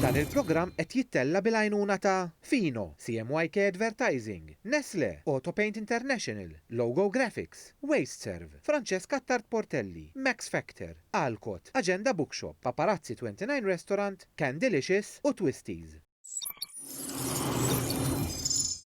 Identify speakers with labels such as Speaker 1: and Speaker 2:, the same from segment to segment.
Speaker 1: Dan il-programm qed jittella' bil-għajnuna ta', Fino, CMYK Advertising, Nestlé, Autopaint International, Logo Graphics, Wasteserv, Francesca Attard Portelli, Max Factor, Alcott, Agenda Bookshop, Paparazzi 29 Restaurant, Candylicious u Twisties.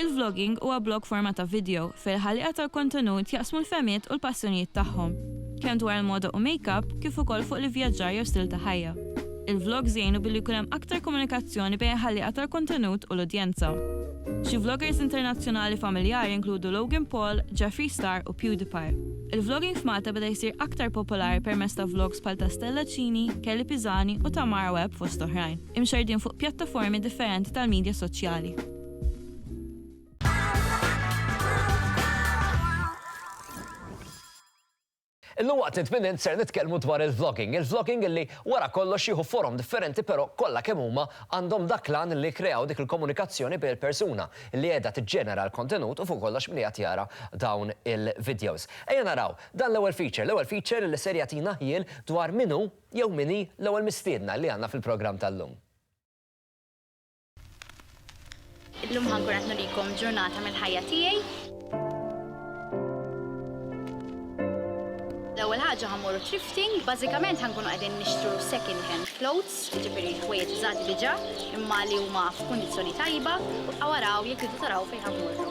Speaker 1: Il-vlogging huwa blog forma ta' vidjo fejn il-ħalliqa tal-kontenut jaqsmu l-fehmiet u l-passjonijiet tagħhom, kemm dwar il-moda u make-up kif ukoll fuq l-ivvjaġġar jew stil ta' ħajja. Il-vlogs jgħinu billi jkun hemm aktar komunikazzjoni bejn il-ħalliqa tal-kontenut u l-udjenza. Xi vloggers internazzjonali familjari jinkludu Logan Paul, Jeffree Star u PewDiePie. Il-vlogging f'Malta beda jsir aktar popolari permezz ta' vlogs bħal ta' Stella Cini, Kelly Pisani u Tamara Webb fost oħrajn, imxerrdin fuq pjattaformi differenti tal-midja soċjali. Illum waqt it-tminin ser nitkellmu dwar il-vlogging. Il-vlogging illi wara kollox jieħu forom differenti però kollha kemm huma għandhom dak l-għan li kreaw dik il-komunikazzjoni bejn il-persuna li qiegħda tiġġenera l-kontenut u fuq kollox min qiegħed jara dawn il-videos. Ejja naraw dan l-ewwel feature, l-ewwel feature li ser jagħtina ħjiel dwar min hu jew min hi l-ewwel mistiedna li għandna fil-programm tal-lum. Illum ħankun qed nurikom ġurnata mill-ħajja tiegħi. L-ewwel ħaġa ħamorru thrifting, bażikament ħankunu qegħdin nixtru second hand clothes, jiġifieri ħwejjeġ żgħad diġà, imma li huma f'kundizzjoni tajba, u waraw jekk idu taraw fejn ħamorru.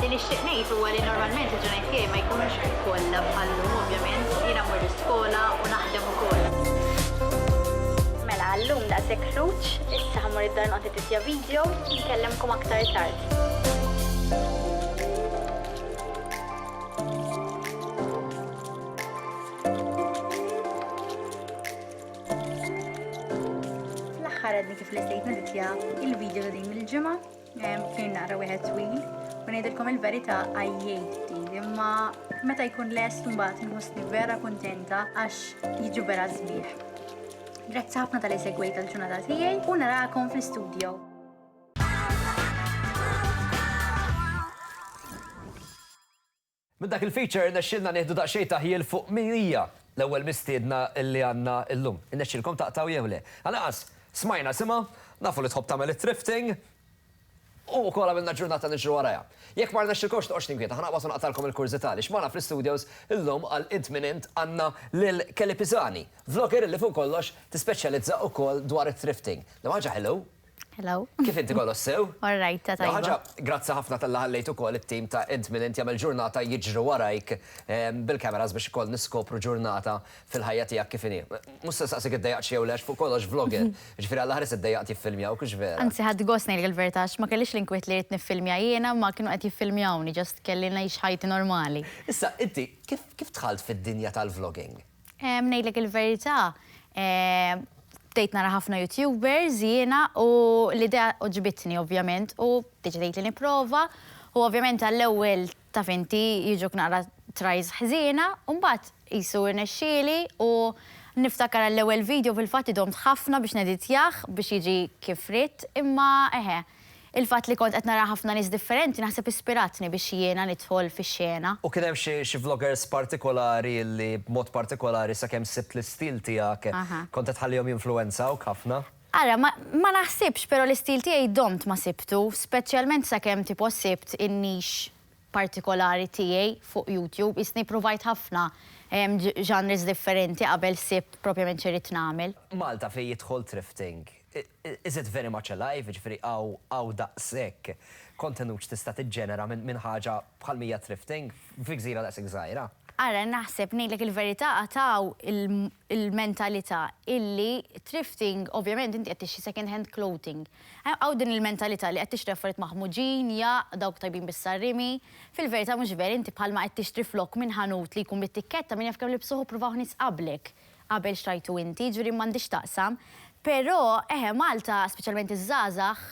Speaker 1: Li nixtieq ngħid huwa li normalment il-ġurnejt tiegħi ma jkunux kollha bħal llum ovvjament, jiena mmur l-iskola u naħdem ukoll. Mela, għal-lum daqshekk ħruġ, issa ħammur id-dar noqgħod editja video, nkellimkom aktar tard. L-aħħar għadni kif l-istejt naditja il-video ta' din il-ġimgħa kien naqra wieħed twil u ngħidilkom il-verità għajjejt din imma meta jkun lest mbagħad nħossni vera kuntenta għax jiġu vera sbieħ. Grazzi ħafna tal-li segwejt tal-ġurnata tiegħi u narakom fl-istudio. Minn dak il-feature irnexxielna nieħdu daqsxejn ta' ħjiel fuq min hija l-ewwel mistiedna li għandna llum. Irnexxielkom taqtgħu jew le? Għalanqas smajna isimha, nafu li tħobb tagħmel it-thrifting u wkoll għamilna ġurnata niġru warajha. Jekk ma rnexxilkomx toqgħodx tinkwieta, ħa naqbad u naqtgħalkom il-kurżità għaliex magħna fl-istudios llum għal Int Min Int għandna lil Kelly Pisani, vlogger li fuq kollox tispeċjalizza wkoll dwar it-thrifting. Liema ħaġa ħelu Hello. Kif inti Golos, sew? All right, ta' tajba. Ħaġa, grazzi ħafna tal-li ħallejt ukoll it-tim ta' Int Minn Int jagħmel ġurnata jiġru warajk bil-cameras biex ukoll niskopru ġurnata fil-ħajja tiegħek kif inhi. Mhux se nsaqsik iddejjaqtx jew le għax fuq kollox vlogger, jiġifieri għall-aħħar issa ddejjaqt jiffilmjawk, hux vera? Anzi ħadt gost ngħidlek il-verità għax ma kellix l-inkwiet li rrid niffilmja jiena imma kienu qed jiffilmjawni, just kelli ngħix ħajti normali. Issa, inti kif dħalt fid-dinja tal-vlogging? Ngħidlek il-verità, bdejt nara ħafna YouTubers jiena u l-idea oġbitni ovvjament u deċidejt li nipprova u ovvjament għall-ewwel taf inti jiġuk naqra tries ħżiena u mbagħad qisu rnexxieli u niftakar għall-ewwel video fil-fatt idomt ħafna biex neditjah biex jiġi kif ridt imma eħe Il-fatt li kont qed nara ħafna nies differenti naħseb ispiratni biex jiena nidħol fix-xena. U kien hemm xi xi vloggers partikolari li b'mod partikolari sakemm sibt l-istil tiegħek kont qed tħallihom jinfluwenzawk ħafna? Ara, ma ma naħsibx, però l-istil tiegħi domt ma sibtu, speċjalment sakemm tipo sibt in-niche partikolari tiegħi fuq YouTube. Qisni ppruvajt ħafna genres differenti qabel sibt propjament x'irrid nagħmel. Malta fejn jidħol thrifting? Is it very much alive, jiġifieri hawn daqshekk kontenut x'tista' tiġġenera minn ħaġa bħal Mija Thrifting fi gżira daqshekk żgħira? Ara, naħseb, ngħidlek il-verità għad hawn il-mentalità illi thrifting, ovvjament inti qed tixtri second hand clothing. Hawn din il-mentalità li qed tixtri affarijiet maħmuġin, jaqq, dawk tajbin bis-sarrimi. Fil-verità mhux vera, inti bħalma qed tixtri flokk minn ħanut li jkun bit-tikketta min jaf kemm libsuh u ppruvaw nies qablek. Qabel xtrajtu inti, jiġifieri m'għandi x'taqsam. Però, eħe, Malta, speċjalment iż-żgħażagħ,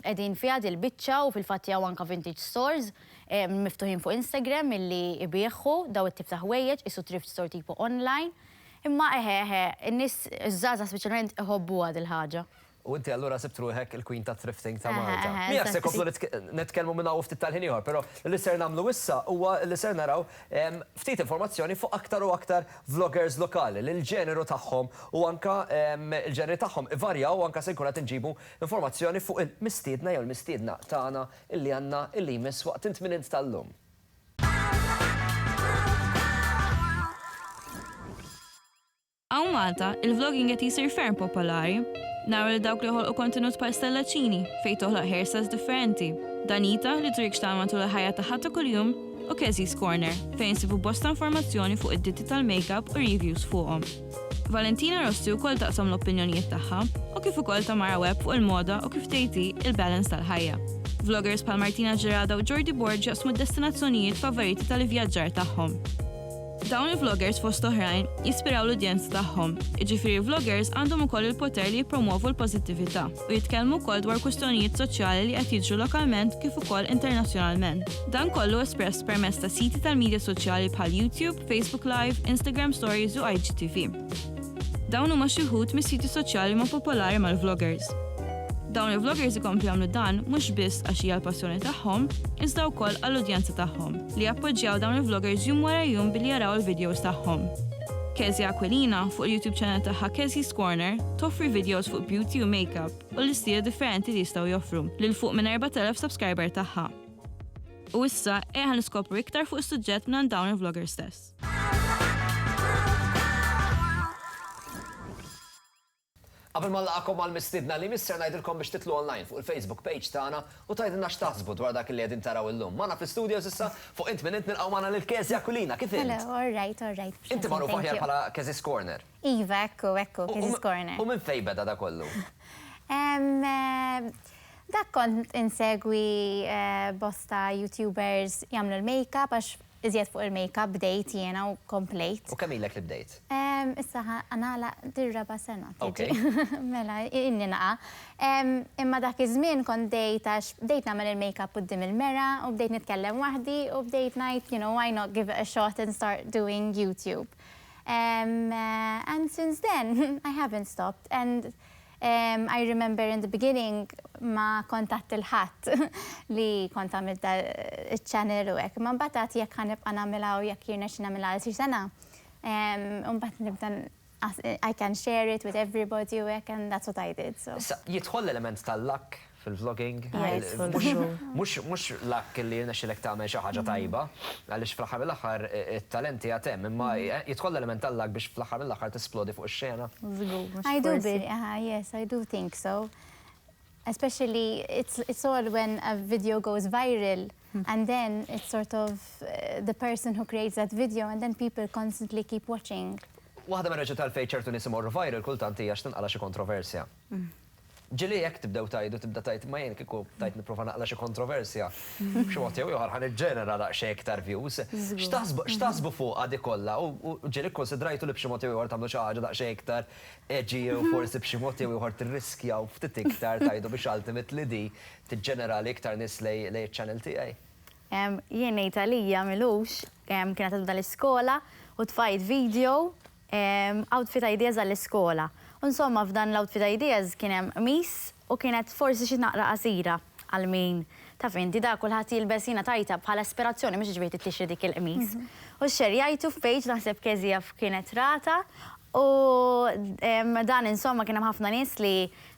Speaker 1: qegħdin fiha dil-biċċa u fil-fatt hawn anke vintage stores miftuħin fuq Instagram milli jbiegħu dawn it-tip ta' ħwejjeġ, qisu thrift store tipo online. Imma, eħe, eħe, in-nies, iż-żgħażagħ speċjalment iħobbuha dil-ħaġa. U inti allura sibt ruħek il-Queen tat-Thrifting ta' Malta. Miegħek se nkomplu nitkellmu minn hawn u ftit tal-ħin ieħor, però li ser nagħmlu issa huwa li ser naraw ftit informazzjoni fuq aktar u aktar vloggers lokali li l-ġeneru tagħhom u anke l-ġeneri tagħhom ivarjaw u anke se nkunu qed inġibu informazzjoni fuq il-mistiedna jew il-mistiedna tagħna li għandna li jmiss waqt it-tminint tal-lum. Hawn Malta, il-vlogging qed jsir ferm popolari. Naraw lil dawk li joħolqu kontenut bħal Stella Cini, fejn toħloq hairstyles differenti, Danita, li turik x'tagħmel matul il-ħajja tagħha ta' kuljum, u Kezzi's Corner, fejn insibu bosta informazzjoni fuq id-ditti tal-makeup u reviews fuqhom. Valentina Rossi wkoll taqsam l-opinjonijiet tagħha, u kif ukoll Tamara Webb fuq il-moda u kif tgħid hi, il-balance tal-ħajja. Vloggers bħal Martina Gerada u Jordi Borg jaqsmu d-destinazzjonijiet favoriti tal-ivvjaġġar tagħhom. Dawn il-vloggers fost oħrajn jispiraw l-udjenza tagħhom, jiġifieri vloggers għandhom ukoll il-poter li jippromwovu l-pożittività u jitkellmu wkoll dwar kwistjonijiet soċjali li qed jiġru lokalment kif ukoll internazzjonalment. Dan kollu espress permezz ta' siti tal-midja soċjali bħal YouTube, Facebook Live, Instagram Stories u IGTV. Dawn huma xi wħud mis-siti soċjali ma' popolari mal-vloggers. Dawn il-vloggers ikomplu jagħmlu dan mhux biss għax hija l-passjoni tagħhom, iżda wkoll għall-udjenza tagħhom, li jappoġġjaw dawn il-vloggers jum wara jum billi jaraw il-videos tagħhom. Kezia Aquilina, fuq il-YouTube channel tagħha Kezi's Corner, toffri videos fuq beauty u makeup u l-istili differenti li jistgħu joffru lil fuq minn 4,000 subscriber tagħha. U issa, eħa niskopru iktar fuq is-suġġett minn dawn il-vloggers stess. Qabel ma nlaqgħakom mal-mistiedna li jmiss ser ngħidilkom biex titlu online fuq il-Facebook page tagħna u tgħidilna x'taħsbu dwar dak li qegħdin taraw illum. Magħna fl-istudios issa fuq int minn int nilqgħu magħna lil Kezia Aquilina. Kif int? Hello, all right, all right. Inti magħrufa aħjar bħala Kezi's Corner. Iva, ekku, ekku, Kezi's Corner. U minn fejn beda da kollu? Dak kont insegwi bosta YouTubers jagħmlu l-makeup għax Iżjed fuq il-makeup bdejt jiena u komplejt. U kemm ilek li bdejt? Issa ħa nagħlaq dir-raba' sena tiġi. Mela, ilni naqa'. Imma dak iż-żmien kont bdejt għax bdejt nagħmel il-makeup quddiem il-mera u bdejt nitkellem waħdi u bdejt ngħid you know why not give it a shot and start doing YouTube. And since then I haven't stopped and I remember in the beginning ma kont għedt lil ħadd li kont għamilt da iċ-channel u hekk, imma mbagħad għedt jekk ħa nibqa' nagħmilha u jekk jirnexxi nagħmilha għal xi sena, u mbagħad nibda I can share it with everybody u hekk and that's what I did so. Issa, jidħol l-element tal-luck? fil-vlogging. Mhux luck li jirnexxilek tagħmel xi ħaġa tajba, għaliex fl-aħħar mill-aħħar it-talent qiegħed hemm, imma jidħol l-element tal-luck biex fl-aħħar mill-aħħar tisplodi fuq ix-xena? Żgur, mhux forsi. Yes, I do think so. Especially it's all when a video goes viral and then it's sort of the person who creates that video and then people constantly keep watching. Waħda mir-raġunijiet għalfejn ċertu nies imorru viral kultant hija għax tinqala' xi kontroversja. Ġieli jekk tibdew tgħidu tibda tgħid ma jien kieku bdajt nipprova naqla' xi kontroversja, b'xi mod jew ieħor ħa niġġenera daqsxejn iktar views. X'taħsbu x'taħsbu fuqha dik kollha u ġieli kkunsidrajtu li b'xi mod jew ieħor tagħmlu xi ħaġa daqsxejn iktar edgy jew forsi b'xi mod jew ieħor tirriskjaw ftit iktar tgħidu biex ultimately di tiġġenera li iktar nies lejn lejn iċ-channel tiegħi? Jien ngħid għalija Milux, kienet għadha l-iskola u tfajt video Outfit ideas għall-iskola. U insomma f'dan l-outfit ideas kien hemm qmis u kienet forsi xi tnaqra qasira għal min, taf inti, da kulħadd jilbes jiena tajtha bħala ispirazzjoni mhux iġifieri tittixri dik il-qmis. U xxerjajtu f'page naħseb KZF kienet ratha u dan insomma kien hemm ħafna nies li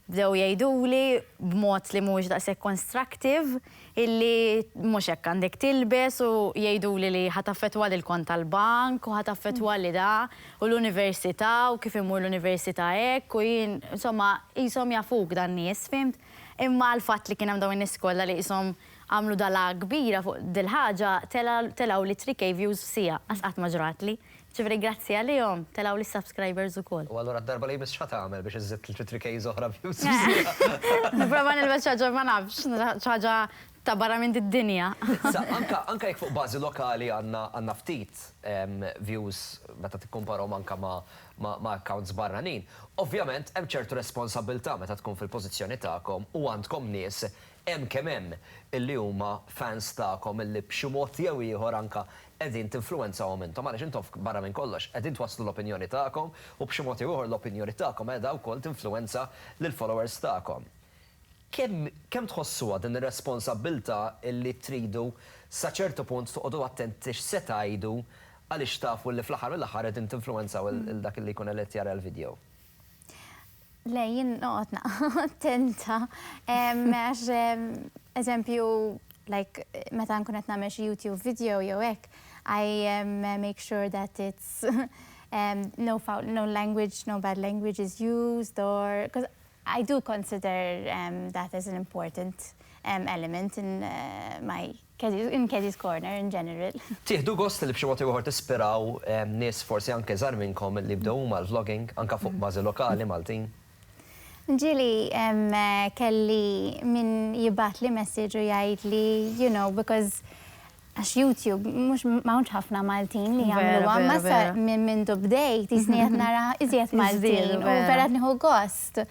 Speaker 1: bdew jgħiduli b'mod li mhuwiex daqshekk constructive, illi mhux hekk għandek tilbes u jgħiduli li ħa taffettwali l-kont tal-bank u ħa taffettwali da u l-università u kif immur l-università hekk u jien insomma qishom jafuk dan-nies fhimt? Imma l-fatt li kien hemm dawn in-nies kollha li qishom għamlu dalgħa kbira fuq dil-ħaġa telgħu l-ittri kejvjuż f'siegħa, għax qatt ma ġratli. Ġifieri grazzi għalihom telgħu li subscribers ukoll. U allura d-darba li jmiss x'ħatagħmel biex iżżid tliet li three kejs oħra views f'sija? Nipprova nilbes xi ħaġa ma nafx, xi ħaġa ta' barra minn did-dinja. Sa anka anka jekk fuq bażi lokali għandna għandna ftit views meta tikkumparahom anka ma' ma' ma' accounts barranin, ovvjament hemm ċertu responsabbiltà meta tkun fil-pożizzjoni tagħkom u għandkom nies Hemm kemm hemm illi huma fans tagħkom illi b'xi mod jew ieħor anke qegħdin tinfluwenzawhom intom għaliex intom barra minn kollox qegħdin twasslu l-opinjoni tagħkom u b'xi mod jew ieħor l-opinjoni tagħkom qiegħda wkoll tinfluwenza lill-followers tagħkom. Kemm kemm tħossuha din ir-responsabbiltà illi tridu sa ċertu punt toqogħdu attenti x'se tgħidu għaliex tafu li fl-aħħar mill-aħħar qegħdin tinfluwenzaw lil dak illi jkun qed jara l-video? Le, jien noqgħod naqgħa attenta. Għax, eżempju, like, meta nkun qed nagħmel xi YouTube video jew hekk, I make sure that it's no foul, no language, no bad language is used or, because I do consider that as an important element in my In Kejdi's Corner in general. Tieħdu gost li b'xi mod jew ieħor tispiraw nies forsi anke żgħar minnkom li jibdew huma l-vlogging anke fuq bażi lokali Maltin? Ġieli kelli min jibgħatli messaġġ u jgħidli you know because għax YouTube mhux ma hawnx ħafna Maltin li jagħmluha imma sa minn mindu bdejt jisni qed nara iżjed Maltin u vera qed nieħu gost.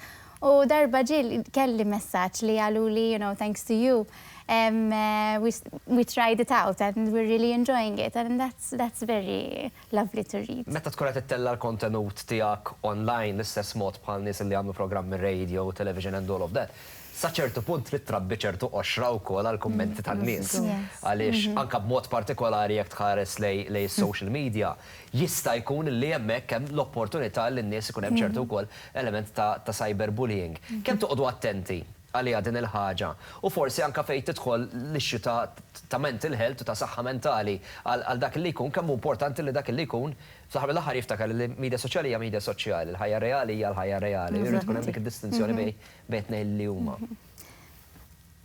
Speaker 1: U darba ġie kelli messaġġ li qaluli you know thanks to you we tried it out and we're really enjoying it and that's that's very lovely to read. Meta tkun qed ittella' l-kontenut tiegħek online l-istess mod bħal nies li jagħmlu programmi radio, television and all of that, sa ċertu punt trid trabbi ċertu qoxra wkoll għall-kummenti tan-nies. Għaliex anke b'mod partikolari jekk tħares lejn is-social media, jista' jkun li hemmhekk hemm l-opportunità li n-nies ikun hemm ċertu wkoll element ta' ta' cyberbullying. Kemm toqgħodu attenti għaliha din il-ħaġa? U forsi anke fejn tidħol l-issue ta' ta' mental health u ta' saħħa mentali għal għal dak li jkun, kemm hu importanti li dak li jkun fl-aħħar mill-aħħar jiftakar li l-media soċjali hija media soċjali, l-ħajja reali hija l-ħajja reali, u jrid ikun hemm dik id-distinzjoni bejn bejn it-tnejn li huma.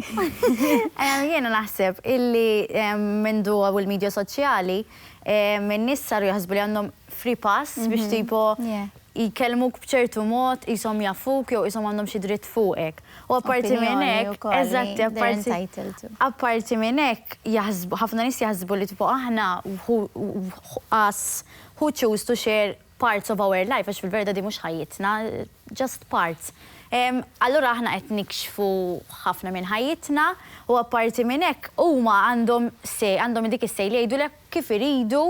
Speaker 1: Jiena naħseb illi mindu hawn il-midja soċjali, in-nies saru jaħsbu li għandhom free pass biex tipo jkellmuk b'ċertu mod, qishom jafuk jew qishom għandhom xi dritt fuqek. U apparti minn hekk, eżatt, apparti minn hekk, ħafna nies jaħsbu li tipo aħna, who choose to share parts of our life għax fil-verita din mhux ħajjitna, just parts. Allura aħna qed nikxfu ħafna minn ħajjitna u apparti minn hekk huma għandhom say, għandhom dik is-say li jgħidulek kif iridu,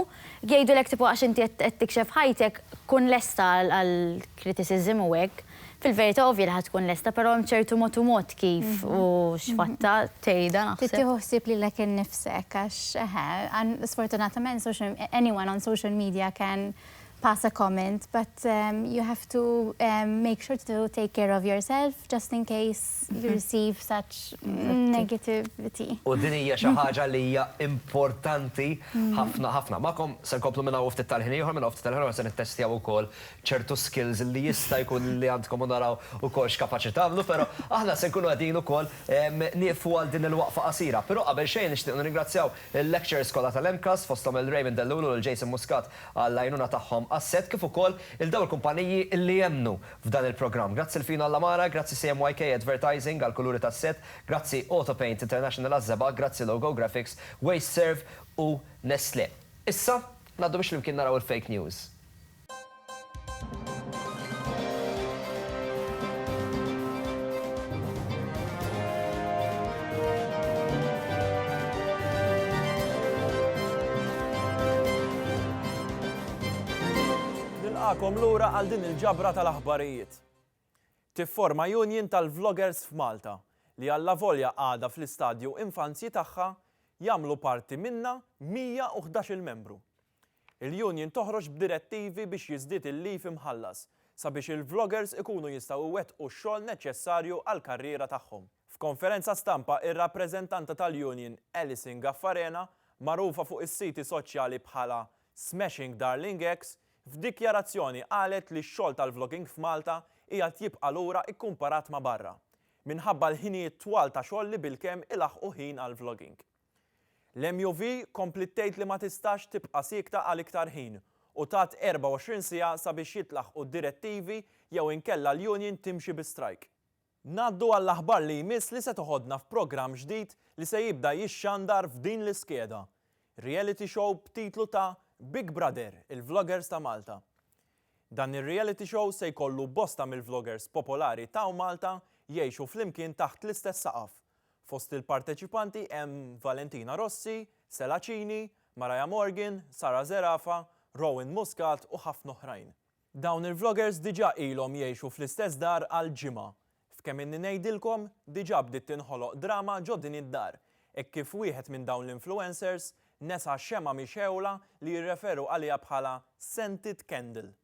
Speaker 1: jgħidulek tipo għax inti qed tikxef ħajtek kun lesta għall-criticism u hekk. Fil-verità ovvja li ħa tkun lesta però hemm ċertu mod u mod kif u x'fatta tgħidha naħseb. Trid tieħu ħsieb lilek innifsek għax eħe, sfortunatament social, anyone on social media can pass a comment but you have to make sure to take care of yourself just in case you receive such negativity. U din hija xi ħaġa li hija importanti ħafna ħafna. Magħkom se nkomplu minn hawn u ftit tal-ħin ieħor, minn hawn u ftit tal-ħin ieħor se nittestjaw ukoll ċertu skills li jista' jkun li għandkom u naraw ukoll x'kapaċi tagħmlu, però aħna se nkunu qegħdin ukoll nieqfu għal din il-waqfa qasira. Però qabel xejn nixtieq nirringrazzjaw il-lecturers kollha tal-MCAST, fosthom lil Raymond Dell'Lulu u lil Jason Muscat għall-għajnuna tagħhom għas-set, kif ukoll lil dawn il-kumpaniji li emmnu f'dan il-programm. Grazzi lil Fino Allamara, grazzi CMYK Advertising għall-kuluri tas-set, grazzi Autopaint International għaż-żebgħa, grazzi Logo Graphics, Wasteserv u Nestlé. Issa, ngħaddu biex flimkien naraw il-fake news. nilqakom lura għal din il-ġabra tal-aħbarijiet. Tifforma union tal-vloggers f'Malta li alla volja għadha fl-istadju infanzji tagħha jagħmlu parti minnha 111-il membru. Il-Union toħroġ b'direttivi biex jiżdied il-leave imħallas sabiex il-vloggers ikunu jistgħu iwettqu x-xogħol neċċessarju għall-karriera tagħhom. F'konferenza stampa ir-rappreżentanta tal-Union Alison Gaffarena, magħrufa fuq is-siti soċjali bħala Smashing Darling Ex, f'dikjarazzjoni qalet li x-xogħol tal-vlogging f'Malta qiegħed jibqa' lura ikkumparat ma' barra, minħabba l-ħinijiet twal ta' xogħol li bilkemm ilaħħqu ħin għall-vlogging. L-MUV kompliet tgħid li ma tistax tibqa' siekta għal iktar ħin u tat 24 siegħa sabiex jitlaħqu d-direttivi jew inkella l-union timxi bi strajk. Ngħaddu għall-aħbar li jmiss li se toħodna f'programm ġdid li se jibda jixxandar f'din l-iskeda, reality show b'titlu ta' Big Brother, il-Vloggers ta' Malta. Dan ir-reality show se jkollu bosta mill-vloggers popolari ta'w Malta jgħixu flimkien taħt l-istess saqaf Fost il-parteċipanti hemm Valentina Rossi, Sela Cini, Mariah Morgan, Sara Zerafa, Rowan Muscat u ħafna oħrajn. Dawn il-vloggers diġà ilhom jgħixu fl-istess dar għal ġimgħa. F'kemm inni ngħidilkom, diġà bdiet tinħoloq drama ġo din id-dar hekk kif wieħed minn dawn l-influencers nesa xemgħa mixgħula li jirreferu għaliha bħala scented candle.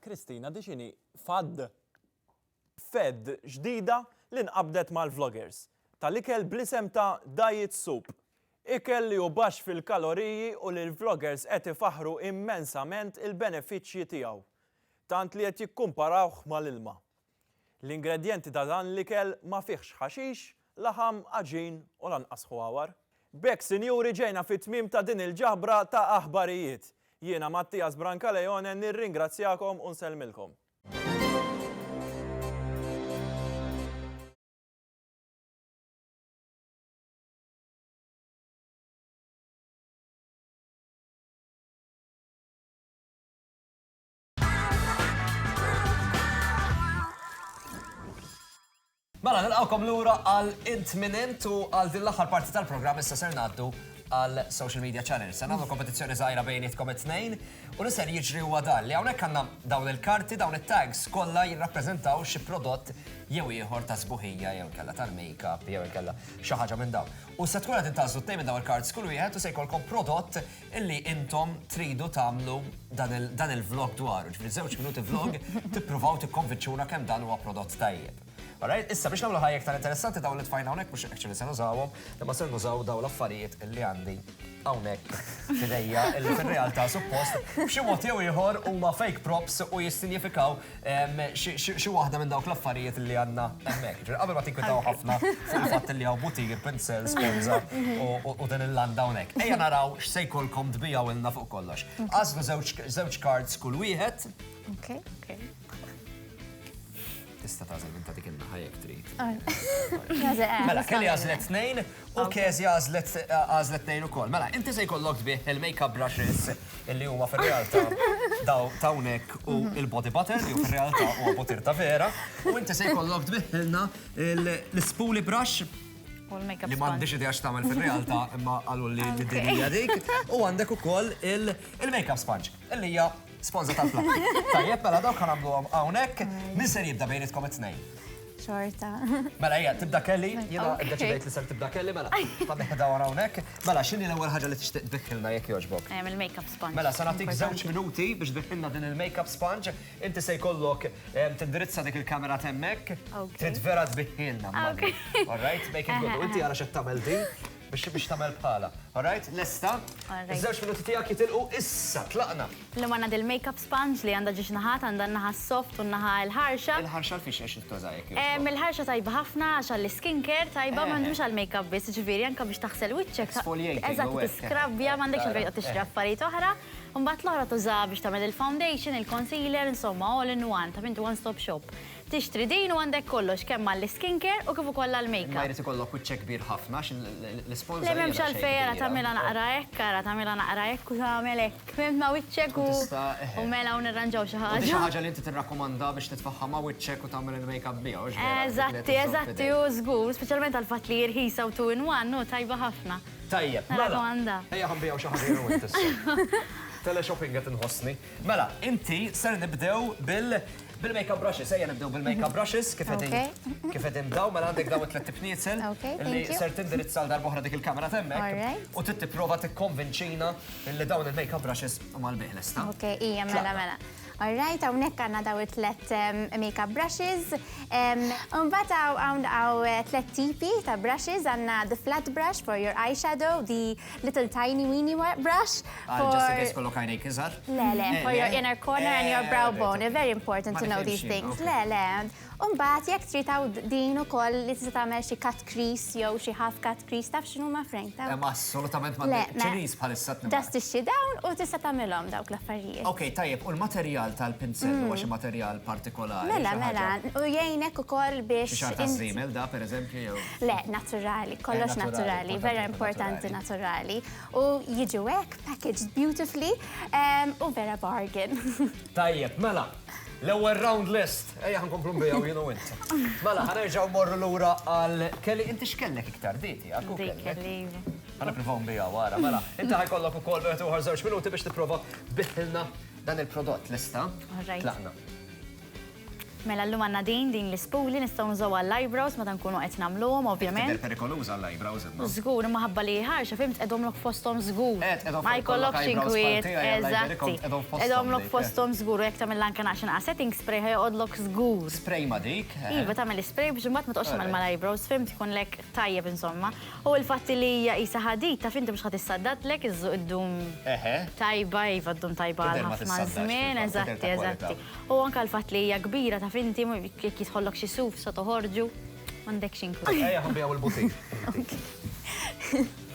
Speaker 1: Kristina Dixini, FAD. Fed ġdida li nqabdet mal-vloggers, tal-ikel bl-isem ta' Diet Soup. Ikel li hu baxx fil-kaloriji u li l-vloggers qed ifaħħru immensament il-benefiċċji tiegħu, tant li qed jikkumparawh mal-ilma. L-ingredjenti ta' dan l-ikel ma fihx ħaxix, laħam, għaġin u lanqas ħwawar. B'hekk sinjuri ġejna fit-tmiem ta' din il-ġabra ta' aħbarijiet. Jiena Mattias Brancaleone nirringrazzjakom u nsellmilkom. Mela, nilqawkom lura għal int minn int u għal din l-aħħar parti tal-programm issa ser ngħaddu għal social media channels. Se nagħmlu kompetizzjoni żgħira bejnietkom it-tnejn u li ser jiġri huwa dan li hawnhekk għandna dawn il-karti dawn it-tags kollha jirrappreżentaw xi prodott jew ieħor ta' sbuħija jew kella tal-makeup jew kella xi ħaġa minn dawn. U se tkun qed intażlu tnejn minn dawn il-kards kull wieħed u se jkollkom prodott illi intom tridu tagħmlu dan il-vlog dwaru, ġifieri żewġ minuti vlog tippruvaw tikkonvinċuna kemm dan huwa prodott tajjeb. Alright, issa biex nagħmlu ħajja iktar interessanti dawn li tfajna hawnhekk mhux actually se nużawhom, imma ser nużaw dawn l-affarijiet illi għandi hawnhekk f'idejja illi fir-realtà suppost b'xi mod jew ieħor huma fake props u jissinjifikaw Xi waħda minn dawk l-affarijiet li għandna hemmhekk. Jiġifieri qabel ma tinkwetaw ħafna fuq il-fatt li hawn butir, pinsel, sponża u din il-landa hawnhekk, ejja naraw x'se jkollkom tbigħuilna fuq kollox. Agħżlu żewġ cards kull wieħed. Okej, okej. Tista' tagħżel minn ta' dik in-naħa jekk trid. Mela, Kelly għażlet tnejn. U Kezia għażlet għażlet tnejn ukoll. Mela, inti se jkollok tbigħ il-makeup brushes li huma fir-realtà daw t'hawnhekk u l-body butter li hu fir-realtà huwa butir ta' vera, u inti se jkollok tbiħħilna l-spoolie brush li m'għandix idea x'tagħmel fir-realtà imma qalulli li din hija dik, u għandek ukoll il-makeup sponge li hija sponża tal-flaħam. Tajjeb, mela dawk ħa nagħmluhom hawnhekk. Min ser jibda bejnietkom it-tnejn? Xorta. Mela hija tibda Kelly, jiena ddeċidejt li ser tibda Kelly, mela ħalli ħedha wara hawnhekk. Mela x'inhi l-ewwel ħaġa li tixtieq tbiħħilna jekk jogħġbok? Ehm, il-makeup sponge. Mela se nagħtik żewġ minuti biex tbiħħilna din il-makeup sponge. Inti se jkollok ehm, tindirizza dik il-kamera temmek. Trid vera tbiħħilna. All right, make it good. U inti ara x'qed tagħmel din. Biex biex tagħmel bħalha. All right, lesta? Iż-żewġ minuti tiegħek jitilqu issa, tlaqna! Llum għandna dil-makeup sponge li għandha ġiex naħat, għandha n-naħa s-soft u n-naħa l-ħarxa. Il-ħarxa l-fiex għax ittuża jekk jogħġbok. Il-ħarxa tajba ħafna għax għall-skin care tajba, ma mhux għall-makeup biss, jiġifieri anke biex taħsel wiċċek. Exfoliating. Eżatt, tiskrabbja, m'għandekx għalfejn toqgħod tixtri affarijiet oħra. Imbagħad l-oħra tużaha biex tagħmel il-foundation, il-concealer, insomma all in one, ta' min tu one stop shop. Tixtri din u għandek kollox kemm għall-skincare u kif ukoll għall-makeup. Imma jrid ikollok wiċċek kbir ħafna għax l-isponża hija daqsxejn kbira. Le m'hemmx għalfejn, ara tagħmilha naqra hekk, ara tagħmilha naqra hekk u tagħmel hekk. Fhimt ma' wiċċek u u mela u nirranġaw xi ħaġa. U di xi ħaġa li inti tirrakkomanda biex titfagħha ma' wiċċek u tagħmel il-makeup biha, hux vera? Eżatti, eżatti, hu żgur, speċjalment għall-fatt li hi rħisa u two in one, hu tajba ħafna. Tajjeb, mela. Nirrakkomanda. Ejja ħa nbigħu xi ħaġa jien u int issa. Teleshopping qed inħossni. Mela, inti ser nibdew bil bil-makeup brushes, ejja nibdew bil-makeup brushes, kif qegħdin kif qegħdin dawn, mela għandek dawn it-tliet tniesel li ser tindirizza għal darb'oħra dik il-kamera t'hemmhekk u trid tipprova tikkonvinċina li dawn il-makeup brushes huma l-bih, lesta? Ok, ija, mela, mela. All right, hawnhekk għandna dawn it-tliet makeup brushes. Imbagħad hawn hawn tliet tipi ta' brushes, għandna the flat brush for your eyeshadow, the Little tiny weeny brush. Ah, for... Just in case kollok għajnejk iżar? Le, le, eh, for your eh, inner corner and your eh, brow bone. It's very important to know these things. Le, le. Umbat, jek trid taw din ukoll li tista' tagħmel xi cut crease jew xi half cut crease taf x'inhu ma' frame ta'. Ma assolutament ma' ċiniż bħalissa tnibgħat. Just ixxi dawn u tista' tagħmilhom dawk l-affarijiet. Ok, tajjeb, u l-materjal tal-pinsell mm. huwa xi materjal partikolari. Mela, mela, u jgħinek ukoll biex. Xi xar ta' da, per eżempju, jew. Le, naturali, kollox naturali, vera importanti naturali. U jiġu hekk, packaged beautifully, u vera bargain. Tajjeb, mela, l-ewwel round list, ejja ħankomplu nbijaw jien u int. Mela, ħanerġgħu morru lura għal Kelly, inti x'kellek iktar diti? Dik kelli. Ħana provaw nbijaw wara, mela. Inti ħajkollok ukoll wieħed ieħor żewġ minuti biex tipprova tbiħħilna dan il-prodott, lesta? Tlaqna. Mela llum għandna din, din l-ispuli nistgħu nużaw għall-eyebrows meta nkunu qed nagħmluhom ovvjament. Tidher perikoluża għall-eyebrows imma. Żgur, imma ħabba li hi ħarxa fim tqegħdhomlok fosthom żgur. Eh, tqegħdhom fosthom. Ma jkollokx inkwiet, eżatt. Tqegħdhomlok fosthom żgur u jekk tagħmilha anke naqx inqas setting spray ħa joqgħodlok żgur. Spray ma dik. Iva, tagħmel ispray biex imbagħad ma toqgħodx tagħmel mal-eyebrows fim tkunlek tajjeb insomma. U il-fatt li hija qisha ħadid taf inti mhux ħa tissaddadlek iżżu iddum tajba, iva ddum tajba għal ħafna żmien, eżatti, eżatti. U anke l-fatt li hija kbira taf inti jekk jidħollok xi suf sa toħorġu. M'għandekx inklu. Ejja ħobbi hawn il-butik.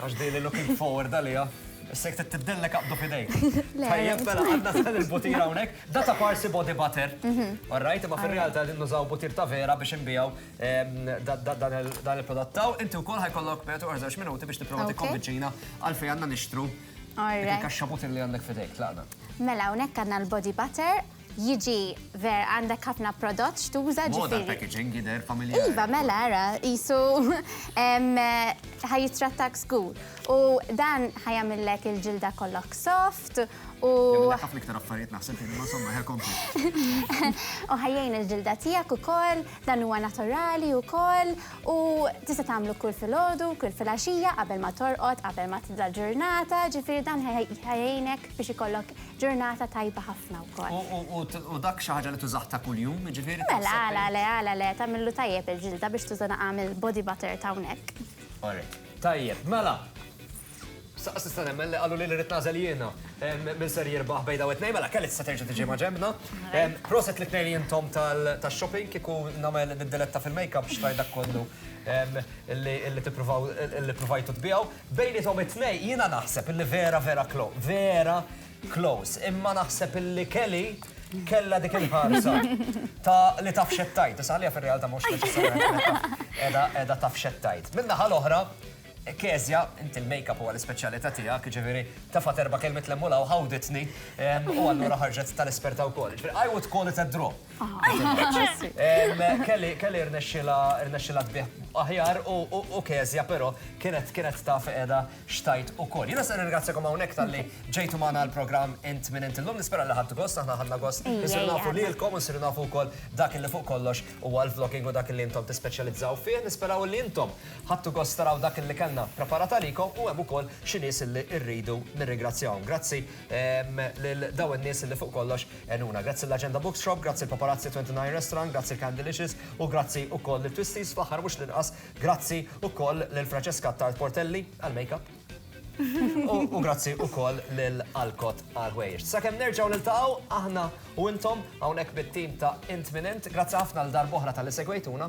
Speaker 1: Għax din looking forward għaliha. Issek trid tibdellek aqdu f'idejk. Tajjeb mela għandna dan il-butir hawnhekk. Da ta' parsi body butter. All right, imma fir-realtà qegħdin nużaw butir ta' vera biex inbiegħu dan il-prodott. Inti wkoll ħajkollok, mela toqgħod żewġ minuti biex tipprova tikkonvinċina għalfejn għandna nixtru Dik il-kaxxabutin li għandek f'idejk, tlaqna. Mela hawnhekk għandna l-body butter, jiġi ver għandek ħafna prodott x'tuża ġifieri. Moda l-packaging jidher familjari. Iva, mela ara, qisu ħa jittrattak żgur. U dan ħa jagħmillek il-ġilda kollok soft u. Jagħmillek ħafna iktar affarijiet naħseb, imma somma, ħa kompli. U ħa jgħin il-ġilda tiegħek ukoll. Dan huwa naturali wkoll u tista' tagħmlu kull filgħodu, kull filgħaxija, qabel ma torqod, qabel ma tibda l-ġurnata, ġifieri dan ħa jgħinek biex ikollok ġurnata tajba ħafna wkoll. U dak xi ħaġa li tużah ta' kuljum, jiġifieri taħseb. Mela, għala le, għala le, tagħmillu tajjeb il-ġilda biex tuża naqam il-body butter ta' hawnhekk. Orrejt. Tajjeb, mela. Saqqas tista' nemmen li qalu li rrid nażel jiena minn ser jirbaħ bejda u tnejn mela kelli tista' terġa' tiġi ma' ġembna. Proset li tnejn intom tax-shopping kieku nagħmel id-diletta fil-makeup xtajt dak kollu li tippruvaw li ppruvajtu tbiegħu. Bejniethom it-tnejn jiena naħseb li vera vera close, vera close. Imma naħseb li Kelly kellha dik il-ħarsa ta' li taf x'qed tgħid. Saħanieha fir-realtà mhux neċessarjament qiegħda taf x'qed tgħid. Min-naħa l-oħra, Kezia, inti l-makeup huwa l-ispeċjalità tiegħek, jiġifieri tefgħet erba' kelmiet lemm u law ħawditni u allura ħarġet tal-esperta wkoll. Jiġifieri I would call it a draw. Kelly rnexxilha tbigħ aħjar u Kezia però kienet kienet taf qiegħda x'tgħid ukoll. Jiena se nirringrazzjakom hawnhekk talli ġejtu magħna għall-programm Int Min Int illum. Nispera li ħadtu gost, aħna ħadna gost insiru nafu lilkom u nsiru nafu wkoll dak li fuq kollox huwa l-vlogging u dak li intom tispeċjalizzaw fih. Nisperaw li intom Ħadtu gost taraw dak li kellna preparat għalikom u hemm ukoll xi nies li rridu nirringrazzjahom. Grazzi lil dawn in-nies li fuq kollox għenuna. Grazzi l-Agenda Bookshop, grazzi l-Paparazzi 29 Restaurant, grazzi l-Candylicious u grazzi ukoll lil Twisties, fl-aħħar mhux l-inqas grazzi ukoll lil Francesca Attard Portelli għall-makeup u grazzi ukoll lil Alcott għall-ħwejjeġ. Sakemm nerġgħu niltaqgħu aħna u intom hawnhekk mit-tim ta' Int Min Int, grazzi ħafna għal darb'oħra talli segwejtuna.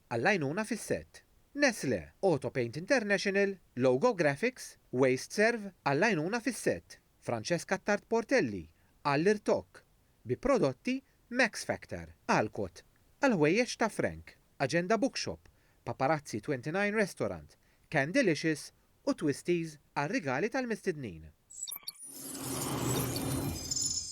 Speaker 1: Għall-għajnuna fis-sett. Nestlé, Autopaint International, Logo Graphics, WasteServ, għall-għajnuna fis-sett. Francesca Attard Portelli, għall-irtokk, bi prodotti Max Factor. Alcott, għall-ħwejjeġ ta' Frank. Agenda Bookshop, Paparazzi 29 Restaurant, Candylicious u Twisties għar-rigali tal-mistednin.